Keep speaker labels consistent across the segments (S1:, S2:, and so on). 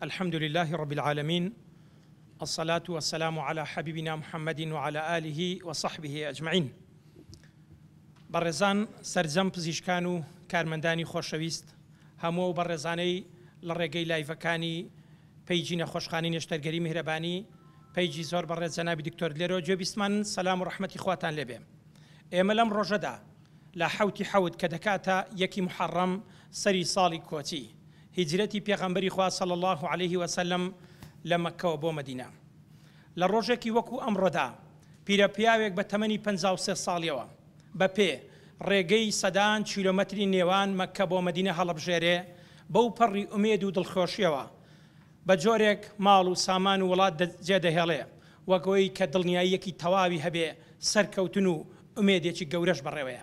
S1: الحمد للە رب العالمین الصلاة و السلام علی حبیبنا محمد و علی آله و صحبه اجمعین بەڕێزان سەرجەم پزیشکان و کارمەندانی خۆشەویست هەموو ئەو بەڕێزانەی لە ڕێگەی لایڤەکانی پەیجی نەخۆشخانی نێشتەرگەری میهرەبانی پەیجی زۆر بەڕێز جەنابی دکتۆر لێرەوە گوێ بیستمان سەلام و ڕەحمەتی خواتان لێبێ ئێمە لەم ڕۆژەدا لە حەوتی حەوت کە دەکاتە یەکی محەڕەم سەری ساڵی کۆچی هیجرەتی پێغەمبەری خوا صلی اللە علیە وسلم لە مەککەوە بۆ مەدینە لە ڕۆژێکی وەکو ئەمڕۆدا پیرە پیاوێک بە تەمەنی پەنجا و سێ ساڵیەوە بە پێ ڕێگەی سەدان کیلۆمەتری نێوان مەککە بۆ مەدینە هەڵەبژێرێ بەو پەڕی ئومێد و دڵخۆشیەوە بە جۆرێک ماڵ و سامان و وڵات جێ دەهێڵێ وەک ئەوەی کە دڵنیاییەکی تەواوی هەبێ سەرکەوتن و ئومێدێکی گەورەش بەڕێوەیە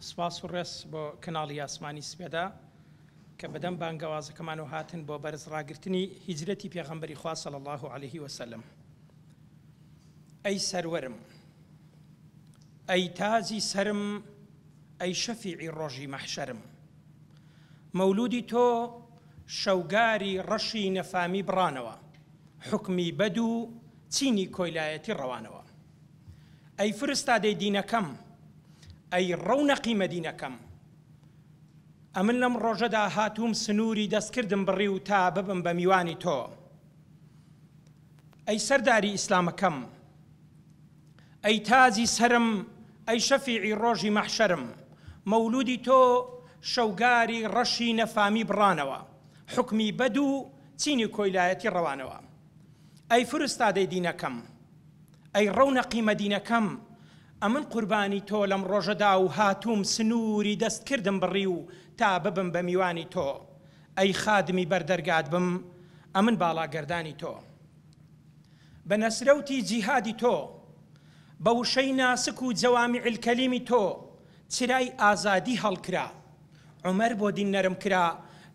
S1: سپاس و ڕێز بۆ کەناڵی ئاسمانی سپێدا کە بەدەم بانگەوازەکەمانەوە هاتن بۆ بەرز ڕاگرتنی هیجرەتی پێغەمبەری خوا صلی اللە علیه و سلم ئەی سەروەرم ئەی تاجی سەرم ئەی شەفیعی ڕۆژی مەحشەرم مەولودی تۆ شەوگاری ڕەشی نەفامی بڕانەوە حکمی بەد و چینی کۆیلایەتی ڕەوانەوە ئەی فرستادەی دینەکەم، ئەی ڕەونەقی مەدینەکەم. ئەمن لەم ڕۆژەدا هاتووم سنووری دەستکردم بڕیو تا ببم بە میوانی تۆ. ئەی سەرداری ئیسلامەکەم، ئەی تاجی سەرم، ئەی شەفیعی ڕۆژی مەحشەرم. مەولوودی تۆ شەوگاری ڕەشی نەفامی بڕانەوە، حوکمی بەد و چینی کۆیلایەتی ڕەوانەوە. ئەی فرستادەی دینەکەم، ئەی ڕەونەقی مەدینەکەم ئەمن قوربانی تۆ لەم ڕۆژەدا و هاتووم سنووری دەستکردم بڕی و تا ببم بە میوانی تۆ ئەی خادمی بەر دەرگات بم ئەمن باڵاگەردانی تۆ بە نەسرەوتی جیهادی تۆ بە وشەی ناسک و جەوامیعلکەلیمی تۆ چرای ئازادی هەڵکرا عومەر بۆ دین نەرم کرا،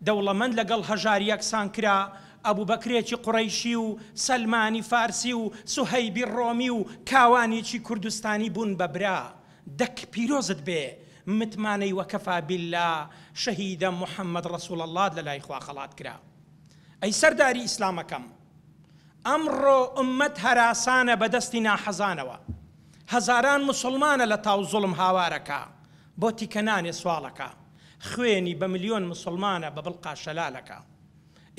S1: دەوڵەمەند لەگەڵ هەژار یەکسان کرا، ئەبوبەکرێکی قوڕەیشی و سەلمانی فارسی و سوهەیبی ڕۆمی و کاوانیکی کوردستانی بوون بە برا. دەک پیرۆزت بێ، متمانەی وەکەفا بیللا شەهیدە محمد ڕسول اللەت لە لای خوا خەڵات کرا. ئەی سەرداری ئیسلامەکەم! ئەمڕۆ ئوممەت هەراسانە بە دەستی ناحەزانەوە. هەزاران موسڵمانە لە تاو زوڵم هاوارەکا. بۆ تیکەنانێ سواڵەکە خوێنی بە ملیۆن موسڵمانە بە بڵقا شەلالەکە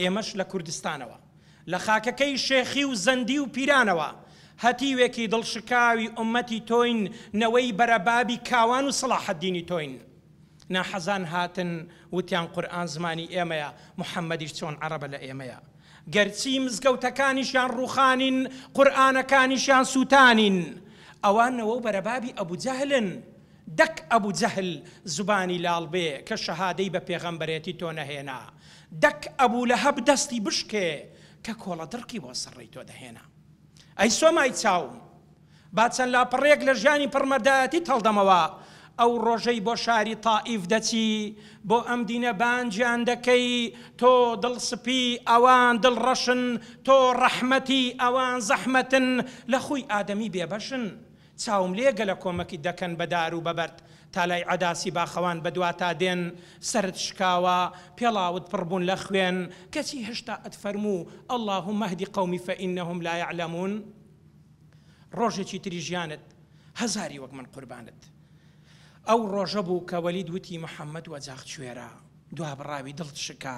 S1: ئێمەش لە کوردستانەوە لە خاکەکەی شێخی و زەندی و پیرانەوە هەتیوێکی دڵشکاوی ئومەتی تۆین نەوەی بەرەبابی کاوان و سەڵاحەدینی تۆین ناحەزان هاتن وتیان قورئان زمانی ئێمەیە محمدیش چۆن عەڕەبە لە ئێمەیە گەرچی مزگەوتەکانیشیان ڕوخانین قورئانەکانیشیان سوتانین ئەوە نەوەو بەرەبابی ئەبوجەهلن دەک ئەبو جەهل زبانی لاڵ بێ کە شەهادەی بە پێغەمبەرێتی تۆ نەهێنا دەک ئەبو لەهەب دەستی بشکێ کە کۆڵە دڕکی بۆ سەر ڕێی تۆ دەهێنا ئەی سۆمای چاوم با چەند لاپەڕەیەک لە ژیانی پڕ مەردایەتیت هەڵدەمەوە ئەو ڕۆژەی بۆ شاری تائیف دەچی بۆ ئەم دینە بانگیان دەکەی تۆ دڵ سپی ئەوان دڵ ڕەشن تۆ ڕەحمەتی ئەوان زەحمەتن لە خوی ئادەمی بێبەشن چاوم لێ گەلە کۆمەکیت دەکەن بە دار و بە بەرد تا لای عەداسی باخەوان بە دواتا دێن سەرت شکاوە پێڵاوت پڕ بوون لە خوێن کەچی هەشتا ئەتفەرموو اللهم اهد قومی فانهم لا یعلمون ڕۆژێکی تری ژیانت هەزاری وەک من قوربانت. ئەو ڕۆژە بوو کە وەلید وتی محمد وەجاخ کوێرە؟ دوابڕاوی دڵت شکا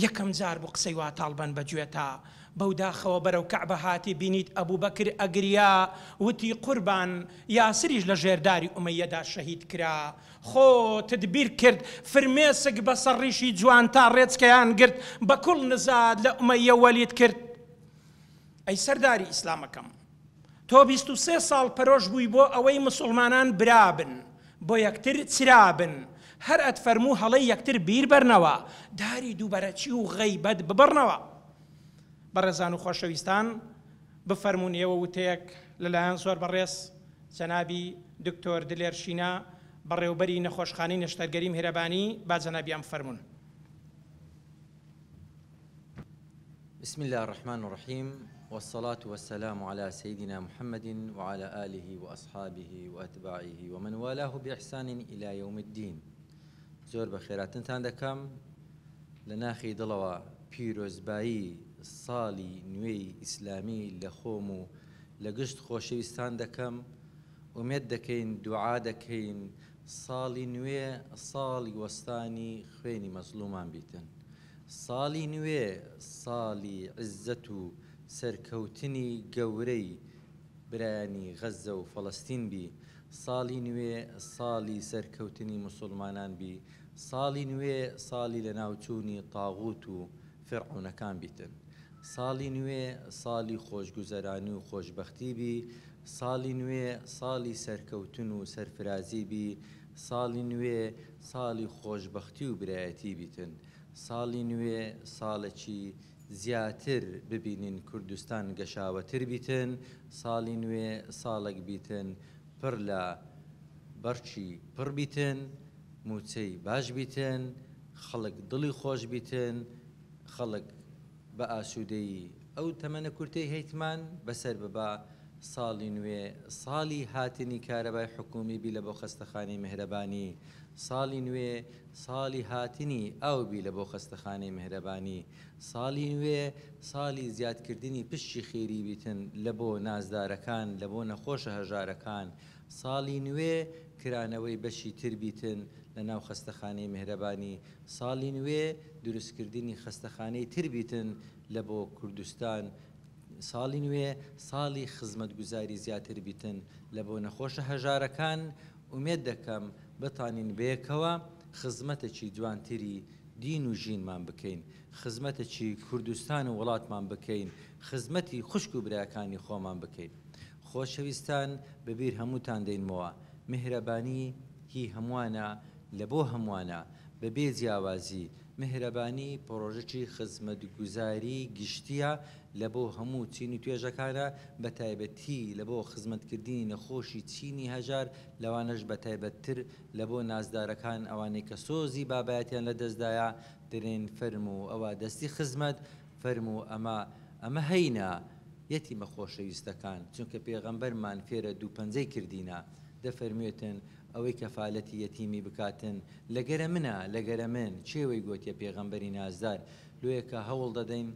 S1: یەکەم جار بوو قسەی وا تاڵبەن بە گوێتا بەو داخەوە بەرەو کەعبە هاتی بینیت ئەبوبەکر ئەگریا وتی قوربان یاسریش لە ژێر داری ئومەیەدا شەهید کرا خۆتت بیر کرد فرمێسک بەسەر ڕیشی جوانتا ڕێچکەیان گرت بە کوڵ نزات لە ئومەیە وەلید کرد ئەی سەرداری ئیسلامەکەم. تۆ بیست و سێ ساڵ پەرۆش بووی بۆ ئەوەی مسوڵمانان برابن بۆ یەکتر چرابن هەر ئەتفەرموو هەڵەی یەکتر بیر بەرنەوە داری دووبەرەکی و غەیبەت ببڕنەوە بەڕێزان و خۆشەویستان بفەرموون ئێوە وتەیەک لەلایەن زۆر بەڕێز جەنابی دکتۆر دلێر شینا بەڕێوبەری نەخۆشخانەی نەشتەرگەری میهرەبانی با جەنابیان بفەرموون.
S2: بسم اللە الرحمن الرحیم والصلاة والسلام علی سیدنا محمد وعلی آله وأصحابه وأتباعه ومن والاه بإحسان إلى يوم الدین زۆر بە خێراتنتان دەکەم لە ناخی دڵەوە پیرۆزبایی ساڵی نوێی ئیسلامی لە خۆم و لە گشت خۆشەویستان دەکەم ئومێد دەکەین دوعا دەکەین ساڵی نوێ ساڵی وەستانی خوێنی مەزڵومان بیتن ساڵی نوێ ساڵی عزەت و سەرکەوتنی گەورەی برایانی غەزە و فەڵەستین بی ساڵی نوێ ساڵی سەرکەوتنی موسوڵمانان بی ساڵی نوێ ساڵی لەناوچوونی طاغوت و فیرعەونەکان بیتن ساڵی نوێ ساڵی خۆشگوزەرانی و خۆشبەختی بی ساڵی نوێ ساڵی سەرکەوتن و سەرفرازی بی ساڵی نوێ ساڵی خۆشبەختی و برایەتی بیتن ساڵی نوێ ساڵەکی زیاتر ببینین کوردستان گەشاوەتر بیتن ساڵی نوێ ساڵەک بیتن پڕ لە بەڕکی پڕ بیتن موچەی باش بیتن خەڵک دڵی خۆش بیتن، خەڵک بە ئاسوودەیی ئەو تەمەنە کورتەی هەیتمان بەسەر ببا، ساڵی نوێ ساڵی هاتنی کارەبای حکوومی بی لە بۆ خەستەخانەی مێهرەبانی، ساڵی نوێ ساڵی هاتنی ئاو بی لە بۆ خەستەخانەی مێهرەبانی، ساڵی نوێ ساڵی زیادکردنی پشکی خێری بیتن لە بۆ نازدارەکان، لە بۆ نەخۆشە هەژارەکان، ساڵی نوێ کرانەوەی بەشی تر بیتن لە ناو خەستەخانەی مێهرەبانی ساڵی نوێ دروست کردنی خەستەخانەی تر بیتن لە بۆ کوردستان ساڵی نوێ ساڵی خزمەت گوزاری زیاتر بیتن لە بۆ نەخۆشە هەژارەکان ئومێد دەکەم بتانین بەیەکەوە خزمەتەکی جوانتری دین و ژینمان بکەین خزمەتەکی کوردستان و وڵاتمان بکەین خزمەتی خوشک و براکانی خۆمان بکەین. خۆشەویستان بەبیر هەمووتان دێنمەوە میهرەبانی هی هەمووانە لە بۆ هەمووانە بە بێ جیاوازی میهرەبانی پڕۆژەکی خزمەتگوزاری گشتیە لە بۆ هەموو چین و توێژەکانە بە تایبەتی لە بۆ خزمەت کردنی نەخۆشی چینی هەژار لەوانەش بە تایبەت تر لە بۆ نازدارەکان ئەوانەی کە سۆزی بابایەتیان لە دەستدایە درێن فەرموو ئەوە دەستی خزمەت فەرموو ئەمە، ئەمە هەینە، یەتیمە خۆشەویستەکان، چونکە پێغەمبەرمان فێرە دوو پەنجەی کردینە، دەفەرموێتن، ئەوەی کەفالەتی یەتیمی بکاتن، لەگەرە منە، لەگەرە من، کێ وەی گۆتیە پێغەمبەری نازدار، لۆیە کە هەوڵ دەدەین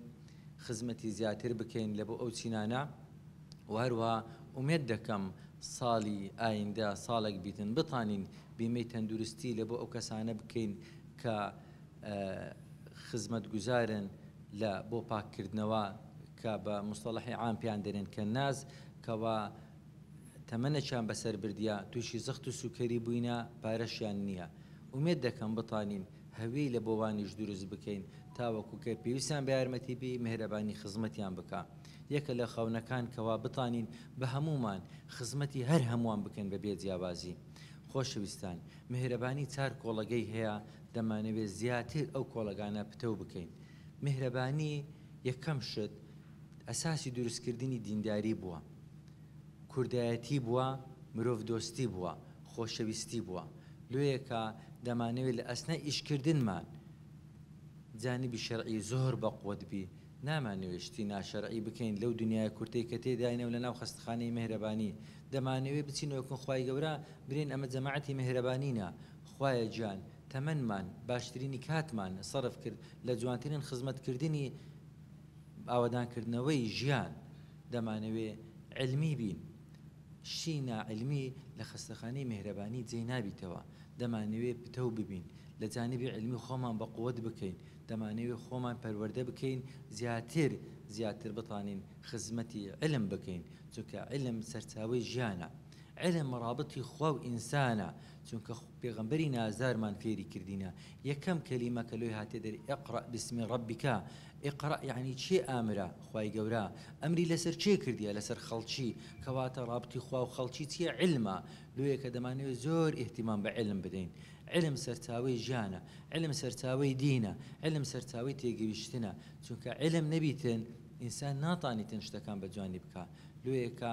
S2: خزمەتی زیاتر بکەین لەبۆ ئەو چینانە، وە هەروەها ئومێد دەکەم ساڵی ئایندە ساڵێک بیتن بتانین بیمەی تەندروستی لەبۆ ئەو کەسانە بکەین کە. خزمەتگوزارن لە بۆ پاککردنەوە کە بە موستەڵەحی عام پێیان دەرێن کە ناز کەوا تەمەنەکیان بەسەر بردیە تووشی زەخت و سوکەری بووینە پارەشیان نییە ئومێد دەکەم بتانین هەویەی لە بۆوانیش دروست بکەین تاوەکو کە پێویستیان بە یارمەتی بی مێهرەبانی خزمەتیان بکا یەکە لە خەونەکان کەوا بتانین بە هەموومان خزمەتی هەر هەمووان بکەین بە بێ جیاوازی خۆشەویستان مێهرەبانی چار کۆڵەگەی هەیە دەمانەوێت زیاتر ئەو کۆڵەگانە پتەو بکەین. میهرەبانی یەکەم شت ئەساسی دروست کردنی دینداری بووە، کوردایەتی بووە، مرۆڤ دۆستی بووە، خۆشەویستی بووە. لۆیەکا دەمانەوێت لە ئەسنای ئیش کردنمان جانبی شەرعی زۆر بە قوت بی. نامانەوێت شتی ناشەرعی بکەین لەو دنیایە کورتەی کە تێداینەو لە ناو خەستخانەی میهرەبانی دەمانەوێت بچینەوە کن خوای گەورە برێن ئەمە جەماعەتی میهرەبانینە. خوایە گیان تەمەنمان باشترینی کاتمان سەرف کرد لە جوانترین خزمەت کردنی ئاوەدان کردنەوەی ژیان دەمانەوێ علمی بین شتی نا علمی لە خەستەخانەی میهرەبانی جێی نابیتەوە دەمانەوێ پتەو ببین لە جانبی علمی خۆمان بە قوت بکەین دەمانەوێ خۆمان پەروەردە بکەین زیاتر زیاتر بتانین خزمەتی علم بکەین چونکە علم سەرچاوەی ژیانە علم ڕابتی خوا و ئینسانە چونکە پێغەمبەری نازدارمان فێری کردینە یەکەم کەلیمە کە لۆی هاتە دەر اقرا بسم ربک اقرا یعنی چێ ئامرا خوای گەورە ئەمری لەسەر چێ کردیە لەسەر خەڵکی کەواتە رابتی خوا و خەڵکی چیە علمە لۆیە کە دەمانەوێت زۆر ئیهتیمام بە علم بدەین علم سەرچاوەی ژیانە علم سەرچاوەی دینە علم سەرچاوەی تێگەیشتنە چونکە علم نەبیتن ئینسان ناتانیتن شتەکان بە جوانی بکا لۆیە کە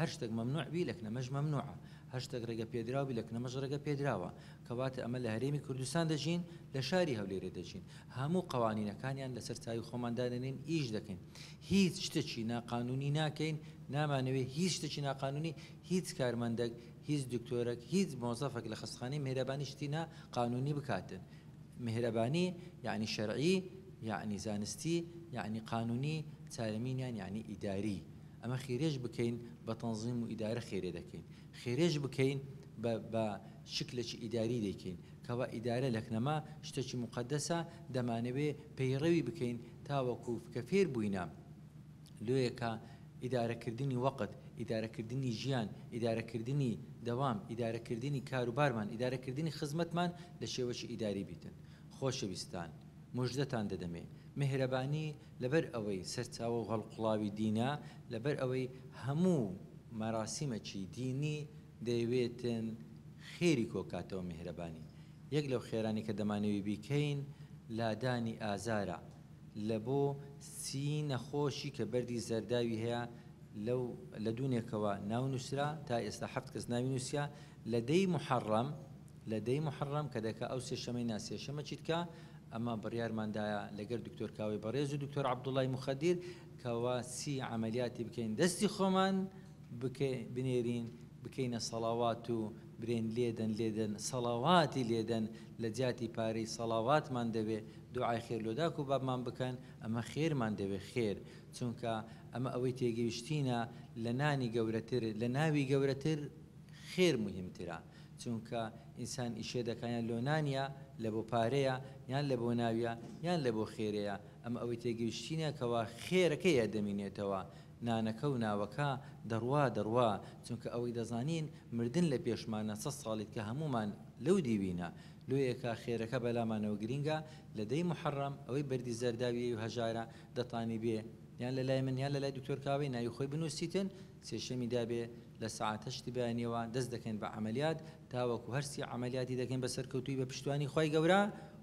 S2: هەر شتێک مەمنوع بی لەکنەمەش مەمنوعە، هەر شتێک ڕێگە پێدراو بی لەکنەمەش ڕێگە پێدراوە، کەواتە ئەمە لە هەرێمی کوردستان دەژین، لە شاری هەولێرێ دەژین، هەموو قەوانینەکانیان لەسەر چاوی خۆمان دادەنێین ئیش دەکەین، هیچ شتەکی ناقانونی ناکەین، نامانەوێ هیچ شتەکی ناقانونی، هیچ کارمەندەک، هیچ دکتۆرەک، هیچ مۆزەفەک لە خەستخانەی مێهرەبانی شتی نا قانونی بکاتن، مێهرەبانی یەعنی شەرعی یەعنی زانستی یەعنی قانونی، چارەمینیان یەعنی ئیداری. ئەمە خێرێش بکەین بە تەنزیم و ئیدارە خێرێ دەکەین، خێرێش بکەین بە بە شکلەکی ئیداری دەیکەین، کەوا ئیدارە لەکنەما شتەکی موقەدەسە دەمانەوێ پەیڕەوی بکەین تاوەکو کە فێر بووینە لۆیە کە ئیدارە کردنی وەقت، ئیدارە کردنی ژیان، ئیدارە کردنی دەوام، ئیدارە کردنی کار و بارمان، ئیدارە کردنی خزمەتمان لە شێوەکی ئیداری بیتن. خۆشەویستان موژدەتان دەدەمێ مێهرەبانی لەبەر ئەوەی سەرچاوە و هەڵقوڵاوی دینە، لەبەر ئەوەی هەموو مەراسیمەکی دینی دەیەوێتن خێری کۆکاتەوە میهرەبانی. یەک لەو خێرانەی کە دەمانەوی بیکەین لادانی ئازارە لە بۆ سی نەخۆشی کە بەردی زەرداوی هەیە لەو لە دوونێکەوە ناو نووسرا تا ئێستا حەفت کەس ناوی نووسیا لە دەی موحەڕەم لە دەی موحەڕەم کە دەکا ئەو سێ شەمەی نا سێ شەمە چیدکا ئەمە بڕیارمان دایە لەگەر دکتۆر کاوەی بەڕێز و دکتۆر عەبدوڵای موخەدیر کەوا چی عەمەلیاتی بکەین دەستی خۆمان بکەی بنێرین بکەینە سەڵاوات و برێن لێدەن لێدەن سەڵاواتی لێدەن لە جیاتی پارەی سەڵاواتمان دەوێ دوعای خێر لۆ داک و بابمان بکەن ئەمە خێرمان دەوێ خێر چونکە ئەمە ئەوەی تێگەیشتینە لە نانی گەورەتر لە ناوی گەورەتر خێر موهیم ترە چونکە ئینسان ئیشێ دەکا یان لۆ نانیە لە بۆ پارەیە یان لە بۆ ناویە یان لە بۆ خێرێە ئەمە ئەوەی تێگەیشتینە کەوا خێرەکەی ئەدەمینێتەوە نانەکە و ناوەکە دەڕوا دەڕوا چونکە ئەوەی دەزانین مردن لە پێشمانە سەد ساڵیت کە هەموومان لەو دیوینە لۆیەکە خێرەکە بەلامانەوە گرینگە لە دەی موحەڕەم ئەوەی بەردی زەرداویەی و هەژارە دەتانی بێ یان لە لای من یان لە لای دکتۆر کاوەی ناوی خۆی بنوسیتن سێشەمی دابێ لە سەعات هەشتی بەیانیەوە دەست دەکەین بە عەمەلیات تاوەکو هەر سی عەمەلیاتی دەکەین بە سەرکەوتووی بە پشتیوانی خوای گەورە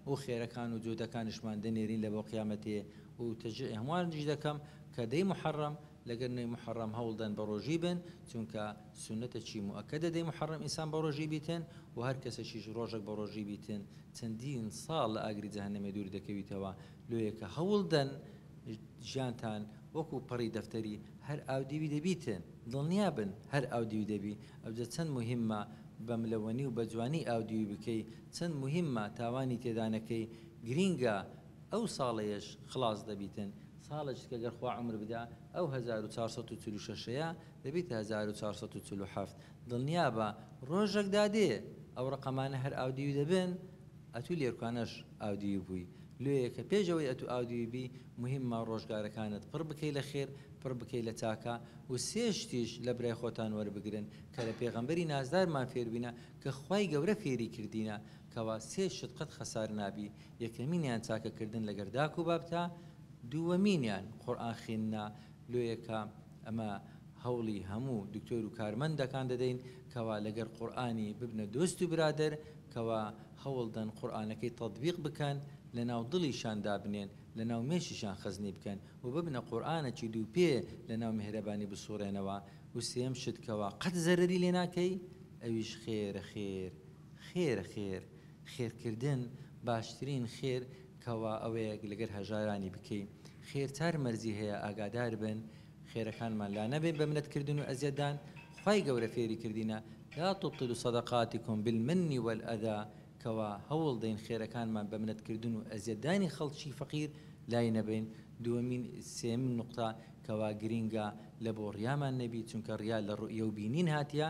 S2: و خێرەکان و جودەکانشمان دەنێرین لە بۆ قیامەتێ و تەژێع هەموانیش دەکەم کە دەی موحەڕەم لەگەر نۆی موحەڕەم هەوڵ دەن بە ڕۆژووی بن چونکە سونەتە چی موئەکەدە دەی موحەڕەم ئینسان بە ڕۆژووی بیتن و هەر کەسەکیش ڕۆژەک بە ڕۆژووی بیتن چەندین ساڵ لە ئاگری جەهەنەمێ دوور دەکەویتەوە لۆیەکە هەوڵ دەن ژیانتان وەکو پەڕی دەفتەری هەر ئاودیوی دەبیتن دڵنیا بن هەر ئاودیوی دەبی ئەوجە چەند موهیممە بە ملەوەنی و بە جوانی ئاودیوی بکەی چەند موهیممە تاوانی تێدا نەکەی گرینگە ئەو ساڵەیەش خڵاس دەبیتن ساڵێکت کە گەر خوا عومر بدا ئەو هەزار و چوار سەد و چل و شەشەیە دەبیتە هەزار و چوار سەد و چل و حەفت دڵنیابە ڕۆژەک دادێ ئەو ڕەقەمانە هەر ئاودیوی دەبن ئەتوو لێرکانەش ئاودیوی بووی لۆیەکە پێش ئەوەی ئەتوو ئاودیوی بی موهیممە ڕۆژگارەکانت پڕ بکەی لە خێر پڕ بکەی لە چاکە و سێ شتیش لە برای خۆتان وەربگرن کە لە پێغەمبەری نازدارمان فێربووینە کە خوای گەورە فێری کردینە کەوا سێ شت قەت خەسار نابی یەکەمینیان چاکەکردن لەگەر داک و بابتا دووەمینیان قورئان خیندنە لۆیەکە ئەمە هەوڵی هەموو دکتۆر و کارمەندەکان دەدەین کەوا لەگەر قورئانی ببنە دۆست و برادەر کەوا هەوڵدەن قورئانەکەی تەتبیق بکەن لەناو دڵیشان دابنێن لەناو مێشیشان خەزنی بکەن و ببنە قورئانەکی دووپێ لەناو میهرەبانی بسوڕێنەوە و سێیەم شت کەوا قەت زەرەری لێ ناکەی ئەویش خێرە خێر خێرە خێر خێرکردن باشترین خێر کوا ئەوەیەک لەگەر هەژارانی بکەی خێر چار مەرجی هەیە ئاگادار بن خێرەکانمان لا نەبەین بە منەت کردن و ئەزیەت دان خوای گەورە فێری کردینە لا تبطلوا صدقاتکم بالمن والأذی کوا هەوڵ دەین خێرەکانمان بە منەت کردن و ئەزیەت دانی خەڵکی فەقیر لای نەبەین دووەمین سێیەمین نوقتە کوا گرینگە لە بۆ ڕیامان نەبی چونکە ڕیا لە ڕوئیە و بینین هاتیە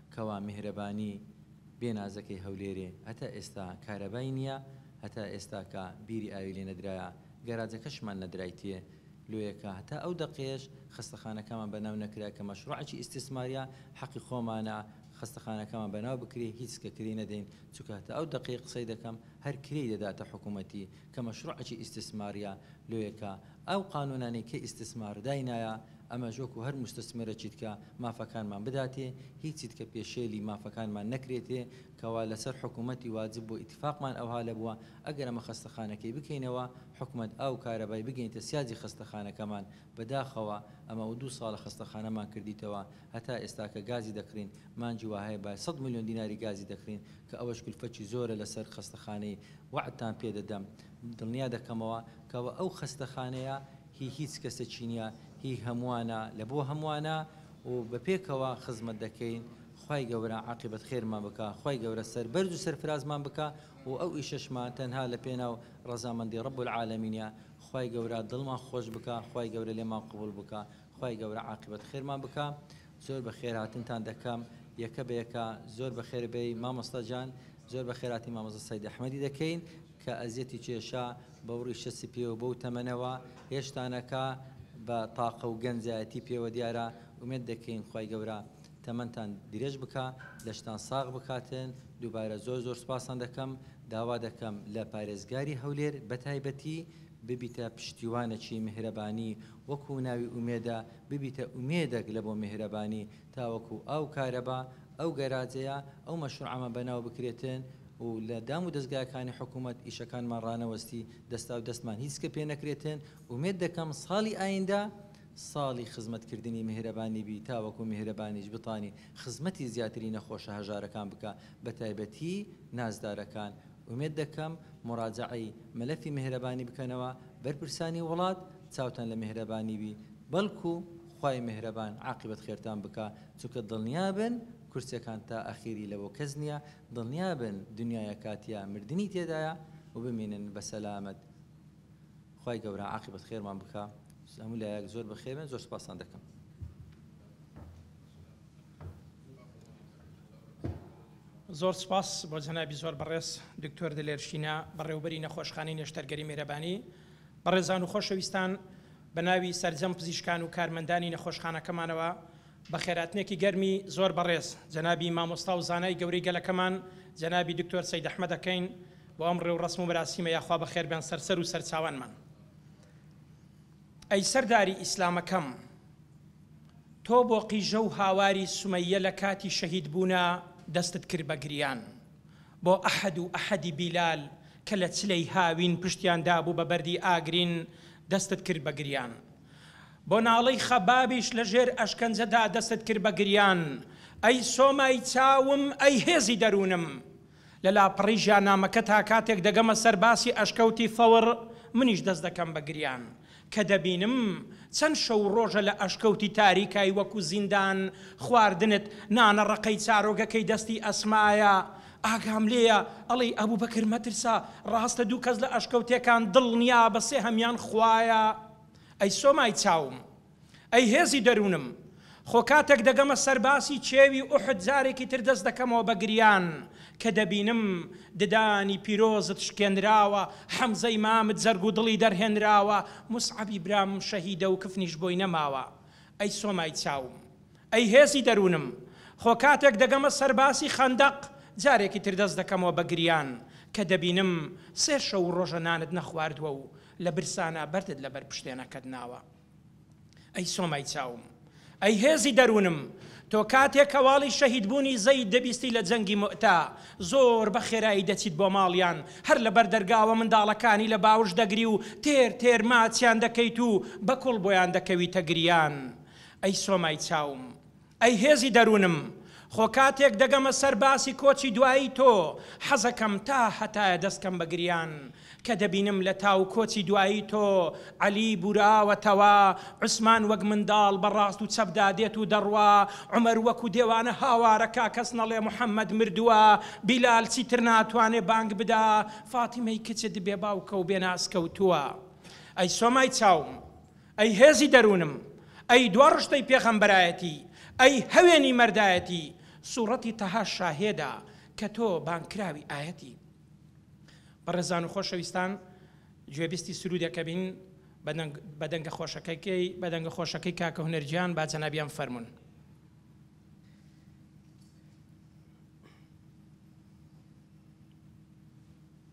S2: کوا میهرەبانی بێ نازەکەی هەولێرێ هەتا ئێستا کارەبای نیە هەتا ئێستاکا بیری ئاوی لێ نەدرایە گەراجەکەشمان نەدرایتێ لۆیەکا هەتا ئەو دەقەیەش خەستەخانەکامان بەناو نەکرا کە مەشڕوعەکی ئیستیسماریە حەقی خۆمانە خەستەخانەکامان بەناو بکرێ هیچ کە کرێی نەدەین چونکە هەتا ئەو دەقەی قسەی دەکەم هەر کرێی دەداتە حکومەتی کە مەشروعەکی ئیستسماریە لۆیە کە ئەو قانونانەی کە ئیستسمار داینایە ئەمەش وەکو هەر موستسمرەکی دکە مافەکانمان بداتێ هیچی دکە پێشێلی مافەکانمان نەکرێتێ کەوا لەسەر حکومەتی واجب بوە ئیتفاقمان ئەوها لەبوە ئەگەر ئەمە خەستەخانەکەی بکەینەوە حکومەت ئاوو کارەبای بگەینتە سیاجی خەستەخانەکەمان بەداخەوە ئەمە ئەو دوو ساڵە خەستەخانەمان کردیتەوە هەتا ئێستاکە گازی دەکڕین مانجی واهەیە بای سەد ملیۆن دیناری گازی دەکڕین کە ئەوەش کلفەکی زۆرە لەسەر خەستەخانەی وەعدتان پێ دەدەم دڵنیا دەکەمەوە کەوە ئەو خەستەخانەیە هی هیچ کەسەکی نیە هی هەموانە لە بۆ هەموانە و بە پێکەوە خزمەت دەکەین خوای گەورە عاقیبەت خێرمان بکا خوای گەورە سەربەرز و سەرفرازمان بکا و ئەو ئیشەشمان تەنها لە پێناو ڕەزامەندی رب العالمینە خوای گەورە دڵمان خۆش بکا خوای گەورە لێمان قبوڵ بکا خوای گەورە عاقبەت خێرمان بکا زۆر بەخێرهاتنتان دەکەم یەکە بە یەکە زۆر بەخێر بێی مامۆستا جان زۆر بەخێراتی مامۆستا سەید ئەحمەدی دەکەین کە ئەزیەتی چێشا بەو ڕیشە سپیە و بەو تەمەنەوە هێشتانەکە بە تاقە و گەنجایەتی پێوە دیارە ئومێد دەکەین خوای گەورە تەمەنتان درێژ بکە لەشتان ساغ بکاتن دووبارە زۆر زۆر سپاسان دەکەم داوا دەکەم لە پارێزگاری هەولێر بەتایبەتی ببیتە پشتیوانەکی میهرەبانی وەکو ناوی ئومێدە ببیتە ئومێدەک لە بۆ میهرەبانی تاوەکو ئاو کارەبا ئەو گەراجەیە ئەو مەشروعامە بەناو بکرێتن و لە دام و دەزگاکانی حکومەت ئیشەکانمان ڕانەوەستی دەستاو دەستمان هیچ کە پێ نەکرێتن ئومێد دەکەم ساڵی ئایندە ساڵی خزمەت کردنی میهرەبانی بی تاوەکو میهرەبانیش بتانی خزمەتی زیاتری نەخۆشە هەژارەکان بکا بەتایبەتی نازدارەکان ئومێد دەکەم موراجەعەی مەلەفی مێهرەبانی بکەنەوە، بەرپرسانی وڵات چاوتان لە مێهرەبانی بی، بەڵکو خوای مێهرەبان عاقیبەت خێرتان بکا، چونکە دڵنیا بن کورسیەکان تا ئەخیری لەبۆ کەس نیە، دڵنیا بن دنیایە کاتیە مردنی تێدایە و بمینن بە سەلامەت خوای گەورە عاقیبەت خێرمان بکا، هەموو لایەک زۆر بە خێربن زۆر سوپاستان دەکەم.
S1: زۆر سوپاس بۆ جەنابی زۆر بەڕێز دکتۆر دلێر شینا بەڕێوبەری نەخۆشخانەی نەشتەرگەری میرەبانی. بەڕێزان و خۆشەویستان بە ناوی سەرجەم پزیشکان و کارمەندانی نەخۆشخانەکەمانەوە بە خێراتنێکی گەرمی زۆر بەڕێز جەنابی مامۆستا و زانای گەورەی گەلەکەمان جەنابی دکتۆر سەید ئەحمەد ئەکەین بۆ ئەم ڕێوڕەسم و مەراسیمە یاخوا بەخێربێن سەرسەر و سەرچاوانمان ئەی سەرداری ئیسلامەکەم. تۆ بۆ قیژە و هاواری سومەیە لە کاتی شەهید بوونا دەستت کرد بە گریان بۆ ئەحد و ئەحدی بیلال کە لە چلەی هاوین پشتیان دابوو بە بەردی ئاگرین دەستت کرد بە گریان بۆ ناڵەی خەبابیش لە ژێر ئەشکەنجە دا دەستت کرد بە گریان ئەی سۆمای چاوم ئەی هێزی دەروونم لە لاپەڕەی ژیانامەکە تا کاتێک دەگەمە سەر باسی ئەشکەوتی ثەور منیش دەست دەکەم بە گریان کە دەبینم چەند شەو و ڕۆژە لە ئەشکەوتی تاریکای وەکو زیندان خواردنت نانە ڕەقەی چارۆگەکەی دەستی ئەسمایە ئاگام لێیە ئەڵێی ئەبوبەکر مەترسە ڕاستە دوو کەس لە ئەشکەوتێکان دڵنیابە سێهەمیان خوایە ئەی سۆمای چاوم. ئەی هێزی دەروونم! خۆ کاتێک دەگەمە سەر باسی چێوی ئوحد جارێکی تر دەست دەکەمەوە بە گریان کە دەبینم ددانی پیرۆزت شکێنراوە، حەمزەی مامت جەرگ و دڵی دەرهێنراوە، موسعەبی برامم شەهیدە و کفنیش بۆی نەماوە. ئەی سۆمای چاوم! ئەی هێزی دەروونم! خۆ کاتێک دەگەمە سەر باسی خەندەق جارێکی تر دەست دەکەمەوە بە گریان کە دەبینم سێ شەو و ڕۆژە نانت نەخواردووە و لە برسانا بەردت لە بەر پشتێنەکەت ناوە. ئەی سۆمای چاوم، ئەی هێزی دەروونم، تۆ کاتێک هەواڵی شەهیدبوونی زەید دەبیستی لە جەنگی موئتە، زۆر بە خێرایی دەچیت بۆ ماڵیان، هەر لە بەر دەرگاوە منداڵەکانی لە باوش دەگری و تێر تێر ماچیان دەکەیت و بە کوڵ بۆیان دەکەویتە گریان. ئەی سۆمای چاوم، ئەی هێزی دەروونم، خۆ کاتێک دەگەمە سەر باسی کۆچی دوایی تۆ، حەزەکەم تا هەتایە دەستکەم بە گریان، کە دەبینم لە تاو کۆچی دوایی تۆ، عەلی بوراوەتەوە، عوسمان وەک منداڵ بە ڕاست و چەپدا دێت و دەڕوا، عومەر وەکو دێوانە هاوارەکە، کەس نەڵێ محەمەد مردووە، بیلال چیتر ناتوانێ بانگ بدا، فاتیمەی کچت بێ باوکە و بێ ناز کەوتووە. ئەی سۆمای چاوم! ئەی هێزی دەروونم، ئەی دوا ڕشتەی پێغەمبەرایەتی، ئەی هەوێنی مەردایەتی، سوڕەتی تەها شاهێدە کە تۆ بانگکراوی ئایەتی. بەڕێزان و خۆشەویستان گوێبیستی سروودێک ئەبین بە دەنگە خۆشەکەی بە دەنگە خۆشەکەی کاکە هونەر گیان با جەنابیان فەرموون.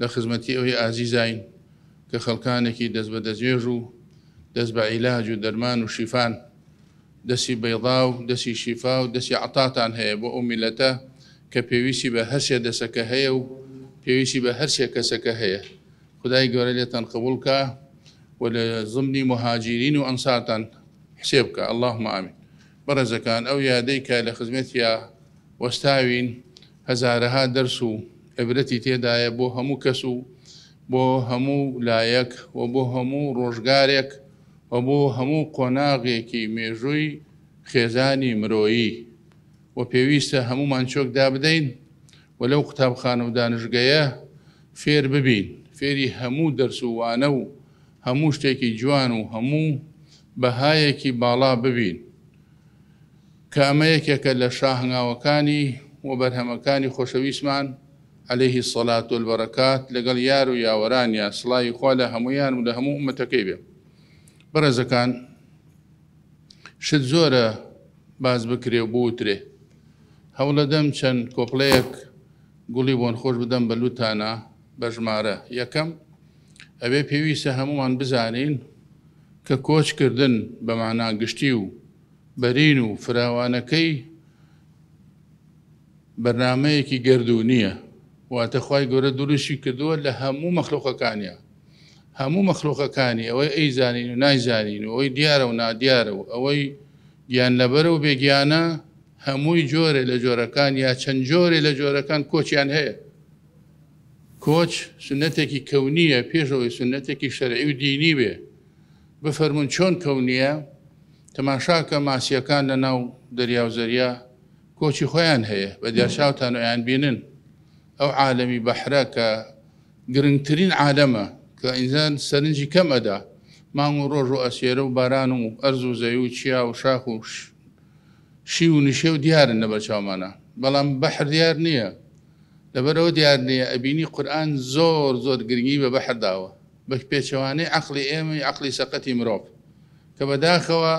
S3: لە خزمەتی ئەوی ئازیزاین کە خەڵکانێکی دەست بە دەستێژ و دەست بە عیلاج و دەرمان و شیفان. دەستی بەیضا و دەستی شیفا و دەستی عطاتان هەیە بۆ ئەو میللەتە کە پێویستی بە هەر سێ دەسەکە هەیە و پێویستی بە هەر سێ کەسەکە هەیە. خودای گەورە لێتان قبوڵ کا و لە زمنی موهاجیرین و ئەنسارتان حسێب کا. اللهم آمین. بەڕێزەکان ئەو یادەی کە لە خزمەتیا وەستاوین، هەزارەها دەرس و عیبرەتی تێدایە بۆ هەموو کەس و بۆ هەموو لایەک و بۆ هەموو ڕۆژگارێک و بۆ هەموو قۆناغێکی مێژووی خێزانی مرۆیی و پێویستە هەموومان چۆک دابدەین و لەو قوتابخانە و دانشگەیە فێر ببین فێری هەموو دەرس و وانە و هەموو شتێکی جوان و هەموو بەهایەکی باڵا ببین. کە ئەمە یەکێکە لە شا هەنگاوەکانی و بەرهەمەکانی خۆشەویستمان علیه الصلوة و البرکات لەگەڵ یار و یاوەرانیا سڵاوی خوا لە هەموویان و لە هەموو ئومەتەکەی بێ بەڕێزەکان شت زۆرە باس بکرێ و بوترێ هەوڵەدەم چەند کۆپلەیەک گوڵی بۆن خۆش بدەم بە لوتانا بە ژمارە یەکەم ئەوێ پێویستە هەمومان بزانین کە کۆچکردن بە مانا گشتی و بەرین و فراوانەکەی بەرنامەیەکی گەردوونییە واتە خوای گەورە دروستی کردووە لە هەموو مەخلوقەکانیان هەموو مەخلوقەکانی ئەوەی ئەی زانین و نایزانین و ئەوەی دیارە و نادیارە و ئەوەی گیان لەبەر و بێگیانە هەمووی جۆرێ لە جۆرەکان یا چەند جۆرێ لە جۆرەکان کۆچیان هەیە کۆچ سنەتێکی کەونیە پێشەوەی سنەتێکی شەرعی و دینی بێ بفەرموون چۆن کەونییە؟ تەماشاکە ماسییەکان لە ناو دەریا و زەریا کۆچی خۆیان هەیە، بە دیار چاوتان ئەیان بینن. ئەو عالەمی بەحرە کە گرنگترین عالەمە کە ئینسان سەرنجی کەم ئەدا، مانگ و ڕۆژ و ئەسیێرە و باران و ئەرز و زەوی و چیا و شاخ و شیو و نشێو دیارن لە بەر چاومانا بەڵام بەحر دیار نییە لەبەر ئەوە دیار نییە ئەبینی قورئان زۆر زۆر گرنگی بە بەحر داوە. بە پێچەوانەی عەقڵی ئێمەی عەقڵی سەقەتی مرۆڤ کە بەداخەوە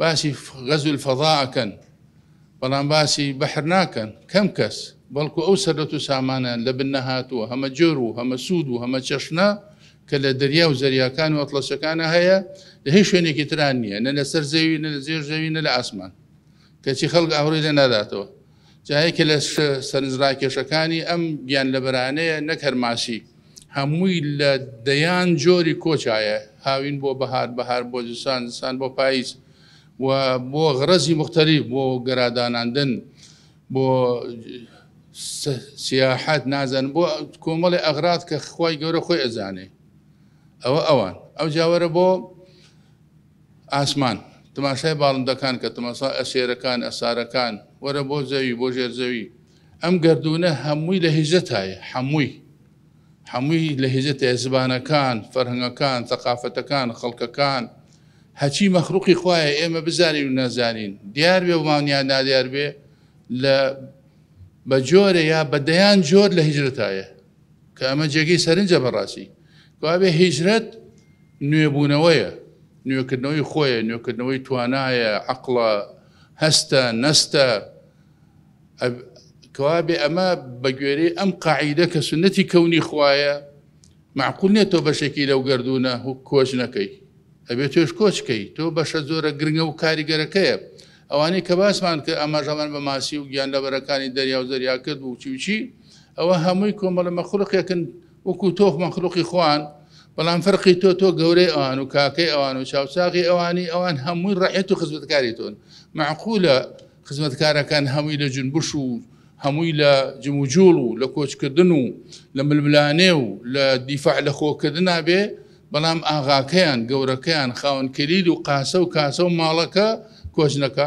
S3: باسی غەزو الفضاء ئەکەن بەڵام باسی بەحر ناکەن کەم کەس بەڵکو ئەو سەرەت و سامانیان لە بن نەهاتووە هەمە جۆر و هەمە سوود و هەمە چەشنە کە لە دەریا و زەریاکان و ئەتڵەسەکانە هەیە لە هیچ شوێنێکی تران نییە نە لەسەر زەوی نە لە زێر زەوی نە لە ئاسمان کەچی خەڵک ئاوڕی لێ ناداتەوە جا یەکێ لە سەرنجڕاکێشەکانی ئەم گیانلەبەرانەیە نەک هەر ماسی، هەمووی لە دەیان جۆری کۆچایە، هاوین بۆ بەهار، بەهار بۆ زستان، زستان بۆ پاییز و بۆ غەرەزی موختەلیف، بۆ گەراداناندن، بۆ سیاحەت، نازانم بۆ کۆمەڵێ ئەغراز کە خوای گەورە خۆی ئەزانێ. ئەوە ئەوان. ئەوجا وەرە بۆ. ئاسمان. تماشای باڵندەکان کە، تماشا ئە سێرەکان، ئە سارەکان. وەرە بۆ زەوی، بۆ ژێر زەوی. ئەم گەردوونە هەمووی لە هیزتایە، حەمووی. حەمووی لە هیزتایە، زبانەکان، فەرهەنگەکان، سەقافەتەکان، خەڵکەکان. هەچی مەخلوقی خوایە ئێمە بزانین و نەزانین، دیار بێ ومان یا نادیار بێ، لە بە جۆرێ یا بە دەیان جۆر لە هیزتایە. کە ئەمە جێگەی سەرنجە بەڕاستی کەوابێ هیجرەت نوێبوونەوەیە نوێکردنەوەی خۆیە نوێکردنەوەی توانایە عقڵە هەستە نەستە کەوابێ ئەمە بەگوێرەی ئەم قاعیدە کە سنەتی کەونی خوایە معقول نیە تۆ بەشێکی لەو گردونە هو کۆچ نەکەی ئەبێت توێش کۆچکەی تۆ بەشە زۆرە گرنگە و کاریگەرەکەیە ئەوانەی کە باسمان کە ئەماژەمان بە ماسی و گیان لەبەرەکانی دەریا و زەریا کرد و چی و چی ئەوە هەمووی کۆمەڵە مەخلوقێکن وەکو تۆخ مەخلوقی خوان بەڵام فەرقی تۆ تۆ گەورەی ئەوان و کاکەی ئەوان و چاوچاقی ئەوانی ئەوان هەمووی ڕەحێت و خزمەتکاری تۆن معقولە خزمەتکارەکان هەمووی لە جنبش و هەمووی لە جموجوڵ و لە کۆچکردن و لە ململانێ و لە دیفاع لە خۆکردنا بێ بەڵام ئاغاکەیان گەورەکەیان خاونکەلیل و قاسە و کاسە و ماڵەکە کۆچنەکە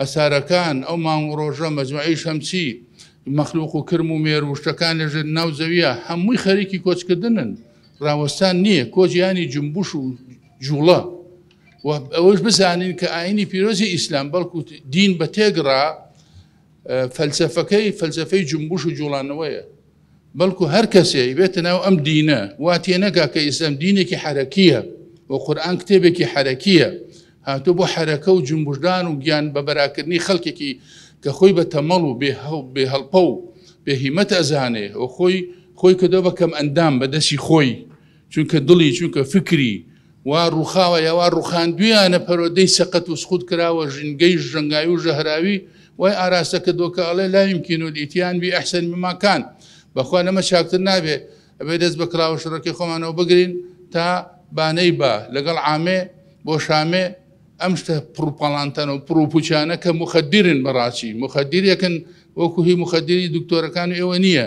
S3: ئەسارەکان، ئەو مانگ و ڕۆژە، مەجمەعی شەمسی، مەخلوق و کرم و مێر و شتەکان لە ژێر ناو زەویە، هەمووی خەریکی کۆچکردنن، ڕاوەستان نییە، کۆچ یانی جومبوش و جوڵە. و ئەوەش بزانین کە ئاینی پیرۆزی ئیسلام بەڵکو دین بە تێگڕا فەلسەفەکەی فەلسەفەی جومبوش و جوڵانەوەیە. بەڵکو هەر کەسێ بێتە ناو ئەم دینە وا تێنەگا کە ئیسلام دینێکی حەرەکیە و قورآن کتێبێکی حەرەکیە هاتۆ بۆ حەرەکە و جمبشدان و گیان بە بەراکردنی خەڵکێکی کە خۆی بە تەمەڵ و بێ هەڵپە و بێهیمەت ئەزانێ و خۆی خۆی کردەوە بە کەم ئەندام بە دەستی خۆی چونکە دڵی چونکە فکری وا ڕوخاوە یاوا ڕوخاندویانە پەرۆدەی سەقەت و سخود کراوە ژنگەی ژەنگاوی و ژەهراوی وای ئاراستە کە دۆکە ئەڵێ لایم کینۆ دیتیان بی ئەحسن بماکان بەخوا لەمە چاکتر نابێ ئەبێ دەست بە کراوە شڕەکەی خۆمانەوە بگرین تا بانەی با لەگەڵ عامێ بۆ شامێ ئەم شتە پڕپەڵانتەن و پرۆپوچانە کە مخدرن بەڕاستی مخدرەکەن وەکو هی مخدری دکتۆرەکان ئێوە نییە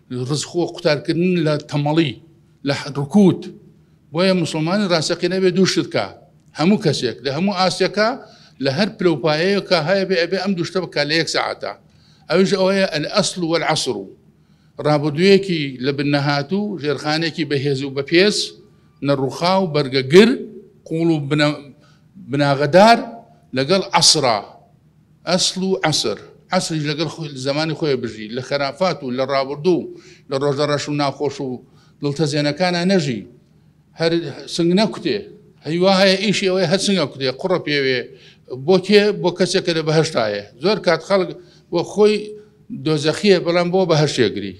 S3: رزقوە قوتارکردن لە تەمەڵی لە رکووت بۆیە موسڵمانی راستەقینە بێ دوو شتکە هەموو کەسێک لە هەموو ئاستێکە لە هەر پلە و پایەیەکە هەیە بێ ئەبێ ئەم دوشتە بکە لە یەک سەعاتە ئەوش ئەوەیە ئەل ئەسل و العصر و ڕابردوویەکی لە بنەهات و ژێرخانێکی بەهێز و بەپێز نەڕوخا و بەرگەگر قوڵ و بناغەدار لەگەڵ عسرا ئەسڵ و عەسر، عەسریش لەگەڵ زەمانی خۆی بژی، لە خەرافات و لە ڕابوردوو و لە ڕۆژە ڕەش و ناخۆش و دڵتەزێنەکانا نەژی، هەر سنگ نەکوتێ، هەی وا هەیە ئیشی ئەوەیە هەر سنگ ئەکوتێ، قوڕە پێوێ، بۆ کێ؟ بۆ کەسێک کە لە بەهەشتایە، زۆر کات خەڵک بۆ خۆی دۆزەخییە، بەڵام بۆ بەهەشت ئەگری،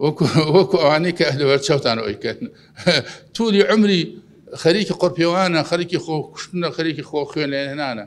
S3: وەکو ئەوانەی کە لەبەرچاوتان ئەوەی کەن، توولی عومری خەریکی قوڕپێوانە، خەریکی خۆکوشتنە، خەریکی خۆ خوێنلێنانە.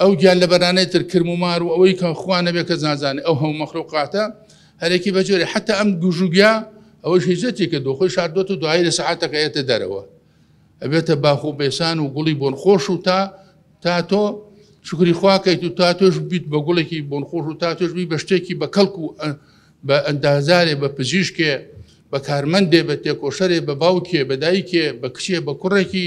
S3: ئەو گیان لەبەرانەی تر کرم و مار و ئەوەی کە خوا نەبێ کەس نازانێ ئەو هەموو مەخلوقاتە هەرێکی بەجۆرێ حتا ئەم گوژوگیا ئەوەی هیزەتی کە دۆخۆی شاردۆت و دوایی لە سەعاتەکە ئێتە دەرەوە ئەبێتە باخ و بێسان و گوڵی بۆن خۆش و تا تا تۆ شکری خواکەیت و تا تۆش بیت بە گوڵێکی بۆن خۆش و تا تۆش بی بە شتێکی بە کەڵک و بە ئەندازارێ بە پزیشکێ بە کارمەندێ بە تێکۆشەرێ بە باوکێ بە دایکێ بە کچێ بە کوڕێکی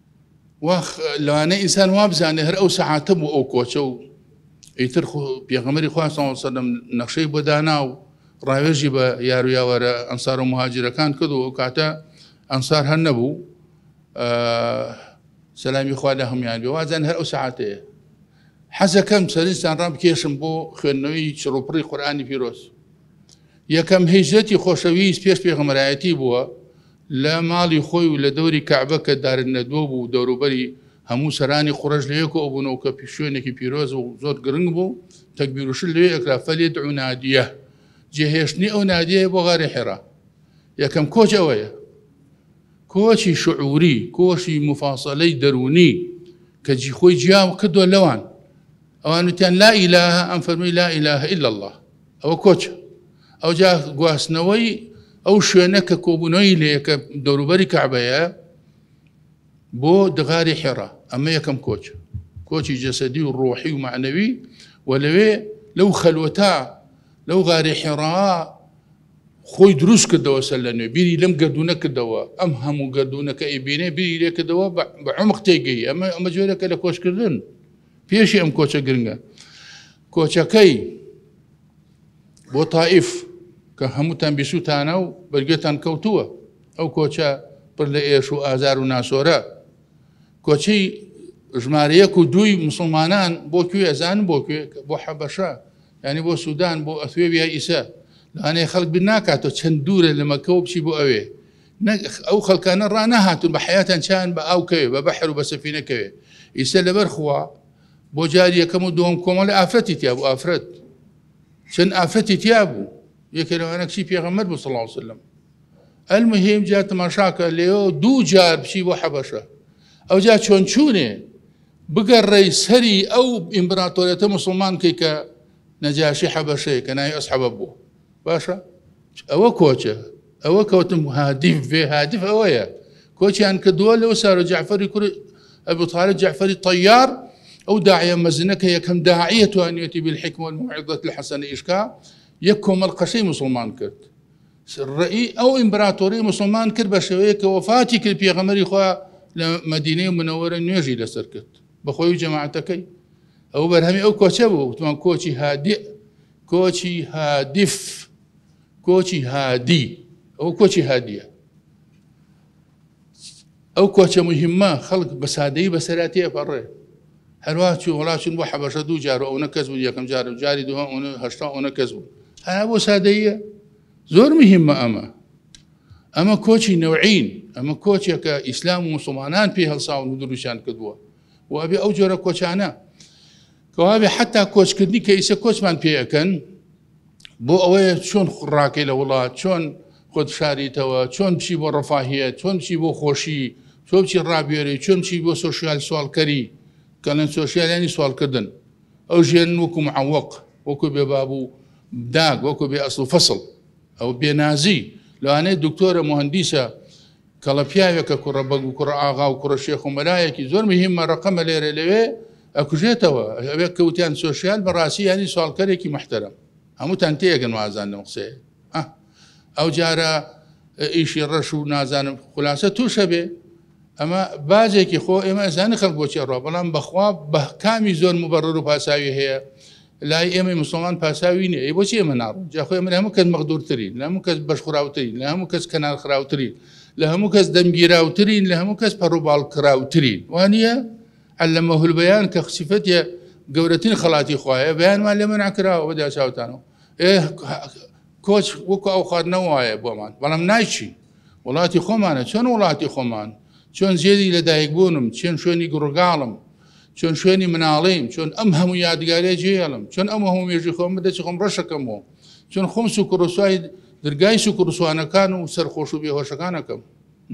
S3: واخ لەوانەیە ئینسان وابزانێ هەر ئەو سەعاتە بوو ئەو کۆچە و ئیتر پێغەمەری خواستەوە سەدەم نەخشەی بۆ دانا و ڕاوێژی بە یارویاوەرە ئەنسار و مهاجرەکان کرد و ئەو کاتە ئەنسار هەر نەبوو سەلامی خوا لە هەمویان بێ وازان هەر ئەو ساعتەیە حەزەکەم سەرستان ڕام کێشم بۆ خوێندنەوەی چڕوپڕی قورآانی پیرۆز یەکەم هیجرەتی خۆشەویست پێش پێغمەرایەتی بووە لە ماڵی خۆی و لە دەوری کەعبە کە دارندەدوە بوو و دەوروبەری هەموو سەرانی قوڕەش لەوێ کۆبوون و کە شوێنێکی پیرۆز و زۆر گرنگ بوو تەکبیر و شل لەوێ ئەکرا فەلیدعو نادیە جێ هێشتنی ئەو نادیەیە بۆ غاری حێرا یەکەم کۆچ ئەوەیە کۆچی شعوری کۆشی مفاسەلەی دەروونی کە جی خۆی جیاو کردووە لەوان ئەوانوتیان لا ئیلاهە ئەم فەرمی لا ئیلاهە ئیلا الله ئەوە کۆچە. ئەوجا گواستنەوەی ئەو شوێنە کە کۆبوونەوەی لێیە کە دەوروبەری کەعبەیە بۆ دغاری حێڕا ئەمە یەکەم کۆچ کۆچی جەسەدی و ڕۆحی و معنەوی و لەوێ لەو خەلوەتا لەو غاری حێڕا خۆی دروست کردەوە سەر لە نوێ بیری لەم گردونە کردەوە ئەم هەموو گردونەکە ئەیبینێ بیری لێکردەوە بە عمق تێگەی ئەمە ئەمە جۆرەکە لە کۆچکردن پێشی ئەم کۆچە گرنگە کۆچەکەی بۆ تائیف کە هەمووتان بیسووتانە و بەرگێتان کەوتووە ئەو کۆچە پر لە ئێش و ئازار و ناسۆرە کۆچی ژمارەیەک و دووی مسلمانان بۆ کوێ ئەزان بۆ کوێ بۆ حەبەشە ینی بۆ سوودان بۆ ئەثێ ویا ئیسە لەانەیە خەڵک بیر ناکاتەوە چەند دوورە لە مەکەەوە بچی بۆ ئەوێ ئەو خەڵکانە ڕانەهاتون بە حیاتان چیان بە ئاوکەوێ بە بەحر و بە سەفینەکەوێ ئیسە لەبەر خوا بۆ جاری یەکەم و دووەم کۆمەڵی ئافرەتی تیا بوو ئافرەت چەند ئافرەتی تیا بوو یەکێ لەوانە کچی پێغەمبەر بوو صلی الله علیه وسلم المهم جا تماشاکە لێەوە دوو جار بچی بۆ حەبەشە ئەو جا چۆن چوونێ بگەڕێی سەری ئەو ئیمبراتۆرێتە مسلمان کەی کە نەجاشی حەبەشەیە کە ناوی ئەسحەبە بوو باشە ئەوە کۆچە ئەوە کەوتم هادیف بێ هادف ئەوەیە کۆچیان کە دووە لەو سارە جعفری کوری ئەبوتارە جعفری تەیار ئەو داعە مەزنە کە یەکەم داعە توانێتی بالحکمە المعدت لە حەسەن ئیشکا یەک کۆمەل قەشەی مسلمان کرد ڕێی ئەو ئیمبراتۆری مسلمان کرد بە شێوەیە کە وەفاتی کرد پێغەمەری خوا لە مدینەی منەوەرە نوێژی لەسەر کرد بەخۆی جەماعەتەکەی ئەو بەرهەمی ئەو کۆچە بوو وتمان کۆچی هادێ کۆچی هادف کۆچی هادی ئەو کۆچی هادیە ئەو کۆچە مهمە خەڵک بە سادەی بەسەراتی ئەپەڕێ هەروە چی وڵاچون بۆ حەبەشە دوو جار ئەو نەکەس بوو یەکەم جار و جاری دووە هشتا ئەو نەکەس بوو هەر بۆ سادەیە زۆر مهمە ئەمە ئەمە کۆچی نەوعین ئەمە کۆچێکە ئیسلام و مسلمانان پێ هەڵساون و دروشیان کردووە و ئەبێ ئەو جۆرە کۆچانە کەوابێ حتا کۆچکردنی کە ئیسە کۆچمان پێەکەن بۆ ئەوەیە چۆن ڕاکەی لە وڵات چۆن خۆت شاریتەوە چۆن بچی بۆ ڕفاهە چۆن چی بۆ خۆشی چۆچی ڕابێری چۆن چی بۆ سوسیال سوالکەری کەڵێن سوسیالانی سوالکردن ئەو ژێن وەکوم عوەق وەکو بێ بابوو داگ وەکو بێ ئەسڵ و فەسڵ ئەو بێنازی لەوانەیە دکتۆرە مهندیسە کەڵە پیاوێکە کوڕە بەگ و کوڕە ئاغا و کوڕە شێخ و مەلایەکی زۆر مهیمە ڕەقەمە لێرە لەوێ ئەکوژێتەوە ئەوێک کەوتیان سۆشیال بەڕاستی یانی سوالکەرێکی محتەرم هەمووتان تێگەن وازان لەم قسەیە ئەو جارە ئیشی ڕەش و نازانم خلاصە تووشە بێ ئەمە بازێکی خۆ ئێمە ئەزانە خەڵک بۆچێ ڕۆ بەڵام بەخوا بە کامی زۆر مبەڕەر و پاساوی هەیە لای ئێمەی موسڵمان پاساوی نیە ئەی بۆچی ئێمە ناڕۆین جا خۆ ئێمە لە هەموو کەس مەغدوورترین لە هەموو کەس بەشخوراوترین لە هەموو کەس کەنارخراوترین لە هەموو کەس دەمگیراوترین لە هەموو کەس پەڕوباڵکراوترین وانە علەمە هولبیان کە خسیفەتە گەورەترین خەڵاتی خوایە بەیانمان لێ منع کراوە بەدا چاوتانەوە کۆچ وەکو ئەو خات نەوایە بۆمان بەڵام نایچی وڵاتی خۆمانە چۆن وڵاتی خۆمان چۆن جێری لەدایک بوونم چێن شوێنی گوڕگاڵم چۆن شوێنی مناڵیم چۆن ئەم هەموو یادگارە جێڵم چۆن ئەم هەموو مێژی خۆم بدەچ خۆم ڕەشەکەمەوە چۆن خۆم سوکڕسوای درگای سوکڕسوانەکان و سەرخۆش و بێهۆشەکانەکەم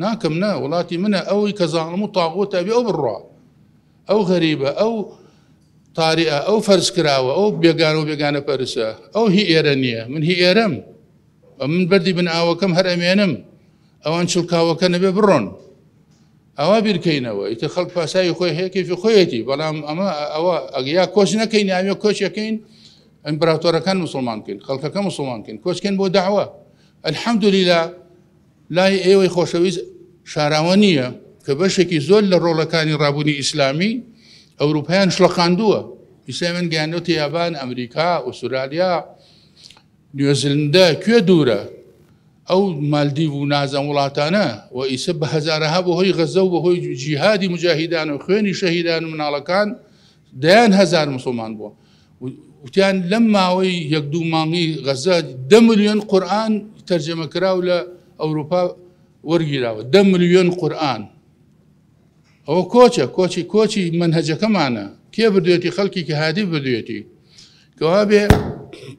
S3: ناکەم نا وڵاتی منە ئەوەی کە زانم و تاغۆت ئەبێ ئەو بڕوا ئەو غەریبە ئەو تاریە ئەو فەرز کراوە ئەو بێگان و بێگانە پەرسە ئەو هی ئێرە نییە من هی ئێرەم من بەردی بن ئاوەکەم هەر ئەمێنم ئەوان چڵکاوەکە نەبێ بڕۆن ئەوە بیرکەینەوە ئیتە خەڵک پاساوی خۆی هەیەکیفی خۆیەتی بەڵام ئەمە ئەوە ئەگەیا کۆچ نەکەین ئاوێ کۆچەکەین ئەمپراتۆرەکان مسلمان بکەین خەڵکەکە مسلمان بکەین کۆچکەن بۆ داوە ئەلحەمدلیلا لای ئێوەی خۆشەویست شاراوە نییە کە بەشێکی زۆر لە ڕۆڵەکانی ڕابوونی ئیسلامی ئەوروپیان شڵەقاندووە ئیسلامن گەیانەوە تیابان ئەمریکا ئوسرالیا نیوزلندە کوێ دوورە ئەو مالدیڤ و نازەم وڵاتانە و ئیسە بە هەزارەها بە هۆی غەزە و بە هۆی جیهادی مجاهیدان و خوێنی شەهیدان و مناڵەکان دەیان هەزار مسلمان بووە وتیان لەم ماوەی یەک دوو مانگی غەزە دە ملیۆن قورآن تەرجەمە کراو لە ئەوروپا وەرگیراوە دە ملیۆن قورآن ئەوە کۆچە کۆچی کۆچی منهجەکەمانە کێ بردوێتی خەڵکی کە هادی بردوێتی کەوا بێ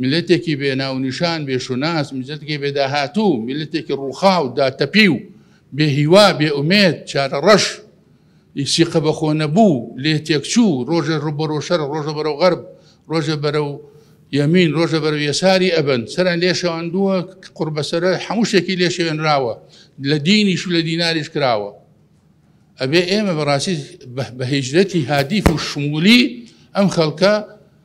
S3: میللەتێکی بێ ناو و نیشان، بێ شوناس، میللەتێکی بێ داهاتوو، میللەتێکی ڕووخاو، داتەپیو، بێ هیوا، بێ ئومێد، چارەڕەش، ی سیقە بە خۆ نەبوو، لێ تێکچوو، ڕۆژێ ڕوو بەرەو شەرق، ڕۆژە بەرەو غەرب، ڕۆژێ بەرەو یەمین، ڕۆژە بەرەو یەساری ئەبەن، سەریان لێ شێواندووە، قوڕبەسەرە هەموو شتێکی لێ شێوێنراوە، لە دینیش و لە دیناریش کراوە. ئەبێ ئێمە بەڕاستی بە هیجرەتی هادیف و شموولی ئەم خەڵکە،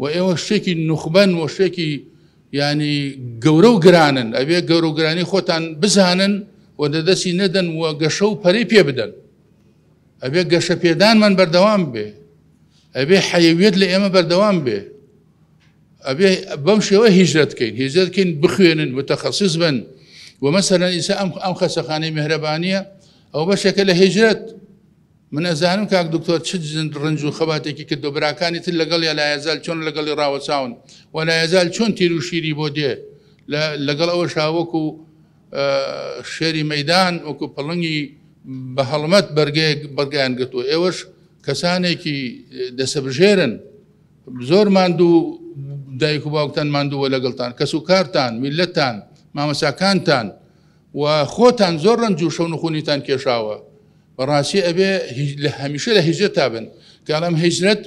S3: و ئێوە شتێکی نوخبەن و شتێکی ینی گەورە و گرانن ئەبێ گەورە و گرانی خۆتان بزانن و دەدەسی نەدەن و گەشە و پەری پێ بدەن ئەبێ گەشە پێدانمان بەردەوام بێ ئەبێ حەیویت لە ئێمە بەردەوام بێ ئەبێ بەم شێوە هیجرەت بکەین هێزت بکەین بخوێنن متەخەسیز بن ومەسەرەن ئیسا ئەم ئەم خەسەخانەی مهرەبانە ئەو بەشێکە لە هێژرەت من ئەزانم کاک دکتۆر چ جند ڕنج و خەباتێکی کردو براکانی تر لەگەڵیا لایەزال چۆن لەگەڵی ڕاوەچاون و لایەزال چۆن تیر و شیری بۆ دێ لەگەڵ ئەوە شاوەکو شێری مەدان وەکو پڵنگی بە هەڵمەت بەرگەیەک بەگەیان گرتووە ئێوەش کەسانێکی دەسەبژێرن زۆر ماندوو دایک و باوکتان ماندووە لەگەڵتان کەس و کارتان میلەتان مامەساکانتان و خۆتان زۆر رەنج و شەون و خونیتان کێشاوە بەڕاستی ئەبێ لە هەمیشە لە هیجرەت تا بن کەڵام هیجرەت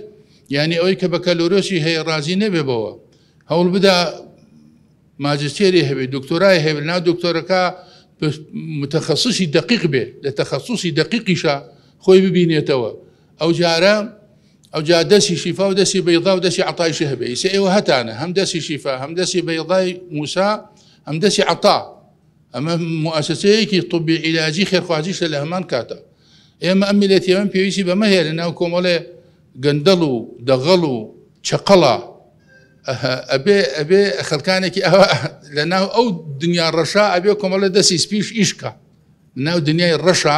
S3: یعنی ئەوەی کە بەکەلۆرۆسی هەیە ڕازی نەبێ بەوە هەوڵ بدا ماجستێری هەبێت دکتۆرای هەبێت ناو دکتۆرەکە متخصصی دقیق بێ لە تەخصصی دقیقیشە خۆی ببینێتەوە ئەو جارە ئەو جا دەسی شیفا و دەسی بەیضا و دەسی عطای شهبە ئیسە ئێوە هەتانە هەم دەسی شیفا هەم دەسی بەیضای موسا هەم دەسی عطا ئەمە موسسەیەکی طبی عیلاجی خێرخوازیشە لە هەمان کاتە ئێمە ئەم میلەتی ئەم پێویستی بەمە هەیە لە ناو کۆمەڵێ گەندەڵ و دەغەڵ و چقەڵە ئەبێ ئەبێ خەلکانێکی ئەوە لە ناو ئەو دنیا ڕەشا ئەبێ کۆمەڵە دەستی سپیش ئیشکە ناو دنیای ڕەشا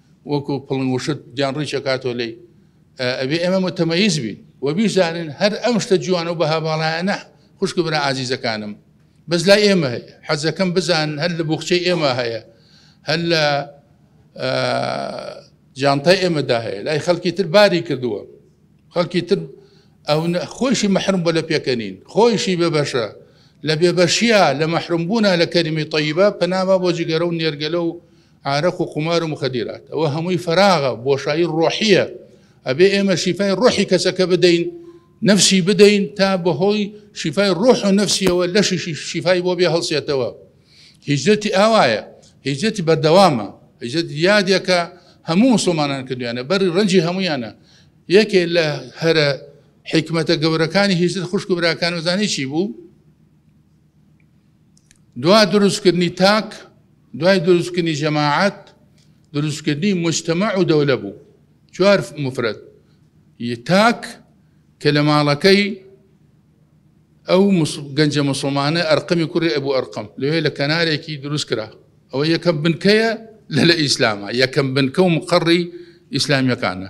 S3: وەکو پڵنگ وشت گیان ڕیچە کاتۆ لی ئەبێ ئێمە متەمەیز بین و بیزانین هەر ئەم شتە جوان و بەها باڵایەنە خوشک برا ئازیزەکانم بەس لای ئێمە هەیە حەزەکەم بزان هەر لە بخچەی ئێمە هەیە هەر لە جانتای ئێمەدا هەیە لای خەڵکی تر باری کردووە خەڵکی تر ئەو خۆشی مەحرم بە لە پێکەنین خۆشی بە بەشە لە بێبەشیە لە مەحرمبوونا لە کەریمی طیبە پەناما بۆ جگەرە و نێرگەلە و عارەق و قومار و مخدرات ئەوە هەمووی فەراغە بۆشایی ڕۆحیە ئەبێ ئێمە شیفای ڕۆحی کەسەکە بدەین نفسی بدەین تا بەهۆی شیفای ڕۆح و نفسیەوە لەشی شیفای بۆ بێ هەڵسێتەوە هیجرەتی ئاوایە هیجرەتی بەردەوامە هیجرەت یادێکە هەموو مسلمانان کردویانە بەری ڕەنجی هەمویانە یەکێ لە هەرە حکمەتە گەورەکانی هیجرت خوشک براکان وزانی چی بوو؟ دوا دروستکردنی تاک، دوای دروستکردنی جەماعەت، دروستکردنی موجتەمەع و دەولە بوو. چوار مفرەد. ی تاک کە لە ماڵەکەی ئەو گەنجە مسلمانە ئەرقەمی کوڕی ئەبوو ئەرقەم لەوێ لە کەنارێکی دروست کرا ئەوە یەکەم بنکەیە لە لە ئیسلامە یەکەم بنکە و مقڕی ئیسلامیەکانە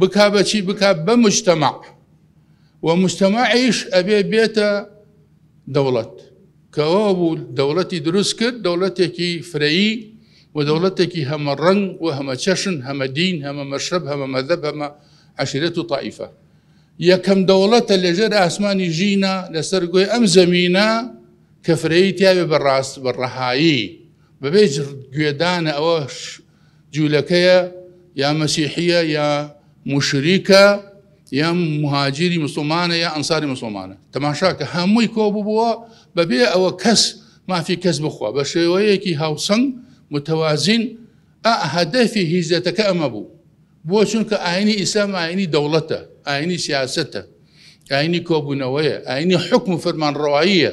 S3: بکا بە چی بکا بە مجتەمع و مجتەمعیش ئەبێ بێتە دەوڵەت کەەوە بوو دەوڵەتی دروست کرد دەوڵەتێکی فرەیی و دەوڵەتێکی هەمە ڕنگ و هەمە چەشن هەمە دین هەمە مەشرب هەمە مەدەب هەمە عشرێت و تائیفە یەکەم دەوڵەتە لەژێر ئاسمانی ژینە لەسەر گوێ ئەم زەمینە کە فرەیی تیاێ بەڕاست بە ڕەهایی بەبێ گوێدانە ئەوە جولەکەیە یا مەسیحیە یا موشریکە یا مهاجری مسلمانە یا ئەنساری مسلمانە تەماشاکە هەمووی کۆ ببووە بەبێ ئەوە کەس مافی کەس بخوا بە شێوەیەکی هاوسنگ متوازین ئەهدەفی هیزەتەکە ئەمە بوو بۆ چونکە ئاینی ئیسلام ئاینی دەوڵەتە ئاینی سیاستە ئاینی کۆبوونەوەیە ئاینی حکم و فەرمانڕەواییە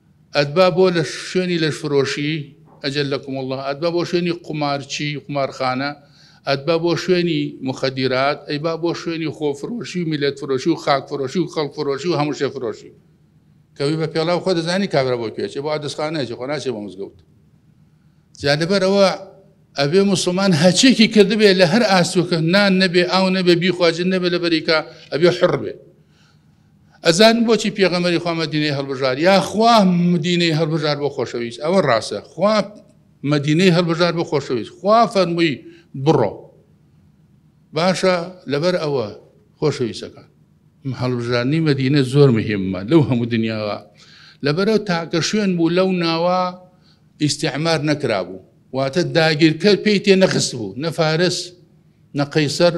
S3: ئەتبا بۆ لە شوێنی لەشفرۆشی، اجلکم اللە، ئەتبا بۆ شوێنی قومارچی، قومارخانە، ئەتبا بۆ شوێنی موخەدیرات، ئەیبا بۆ شوێنی خۆفرۆشی و میللەت فرۆشی و خاک فرۆشی و خەڵک فرۆشی و هەموو شێ فرۆشی. کەوی بە پێڵاو خۆ دەزانی کابرا بۆ کوێ ئەچێ بۆ عەدسخانە ئەچێ خۆ ناچێ بۆ مزگەوت جا لەبەر ئەوە ئەبێ مسلمان هەچێکی کردبێ لە هەر ئاستوکە نان نەبێ ئاو نەبێ بیخواجن نەبێ لە بەریکا ئەبێ حڕ بێ ئەزانن بۆچی پێغەمبەری خوا مەدینەی هەڵبژار یا خوا مدینەی هەڵبژار بۆ خۆشەویست ئەوە ڕاستە خوا مەدینەی هەڵبژار بۆ خۆشەویست خوا فەرمووی بڕۆ باشە لەبەر ئەوە خۆشەویستەکان هەڵبژارنی مەدینە زۆر مهمە لەو هەموو دنیاوە لەبەرەوە تاکە شوێن بوو لەو ناوە ئیسیعمار نەکرابوو واتە داگیرکەر پێی تێ نەخست بوو نە فارس نە قەیسەر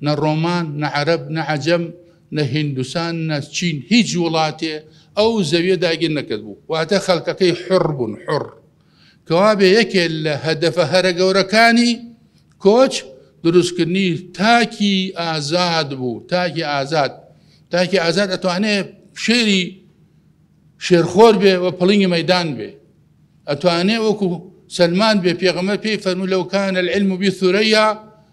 S3: نە ڕۆمان، نە عەرەب، نە عەجەم، نە هیندوسان، نە چین، هیچ وڵاتێ ئەو زەویە داگیر نەکردبوو، واتە خەلکەکەی حوڕ بوون، حوڕ. کەوابێ یەکێ لە هەدەفە هەرە گەورەکانی کۆچ دروستکردنی تاکی ئازاد بوو، تاکی ئازاد، تاکی ئازاد ئەتوانێ شێری شێرخۆر بێ و پڵینگی مەدان بێ، ئەتوانێ وەکو سەلمان بێ پێغەمە پێی فەرموو لەو کانە العلم بی ثریا،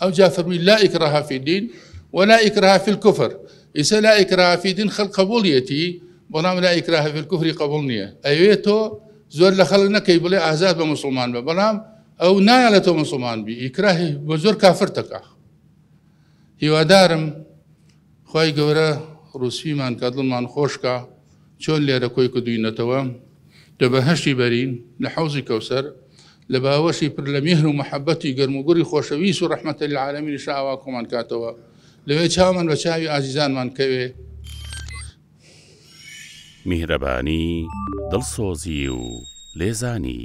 S3: ئەوجا فەرمووی لا ئیکراهە فی دین ولا ئیکراهە فی الکفر ئیسە لا ئیکراهە فی دین خەڵک قبوڵیەتی بەڵام لا ئیکراهە فی الکفری قبوڵ نییە ئەوێ تۆ زۆر لە خەڵک نەکەی بڵێ ئازاد بە مسلمان بە بەڵام ئەو نایە لە تۆ مسلمان بی ئیکراهی بە زۆر کافر تەکە هیوادارم خی گەورە ڕوسیمان کە دڵمان خۆشکە چۆن لێرە کۆی کردوینەتەوە لە بەهەشتی بەرین لە حەوزی کەوسەر لە باوەشی پر لە میهر و محەبەتی گەرم و گوڕی خۆشەویست و ڕەحمەتە لە عالەمینی شاوا کۆمان کاتەوە لەوێ چاومان بە چاوی ئازیزانمان کەوێ.
S4: میهرەبانی، دڵسۆزی و لێزانی.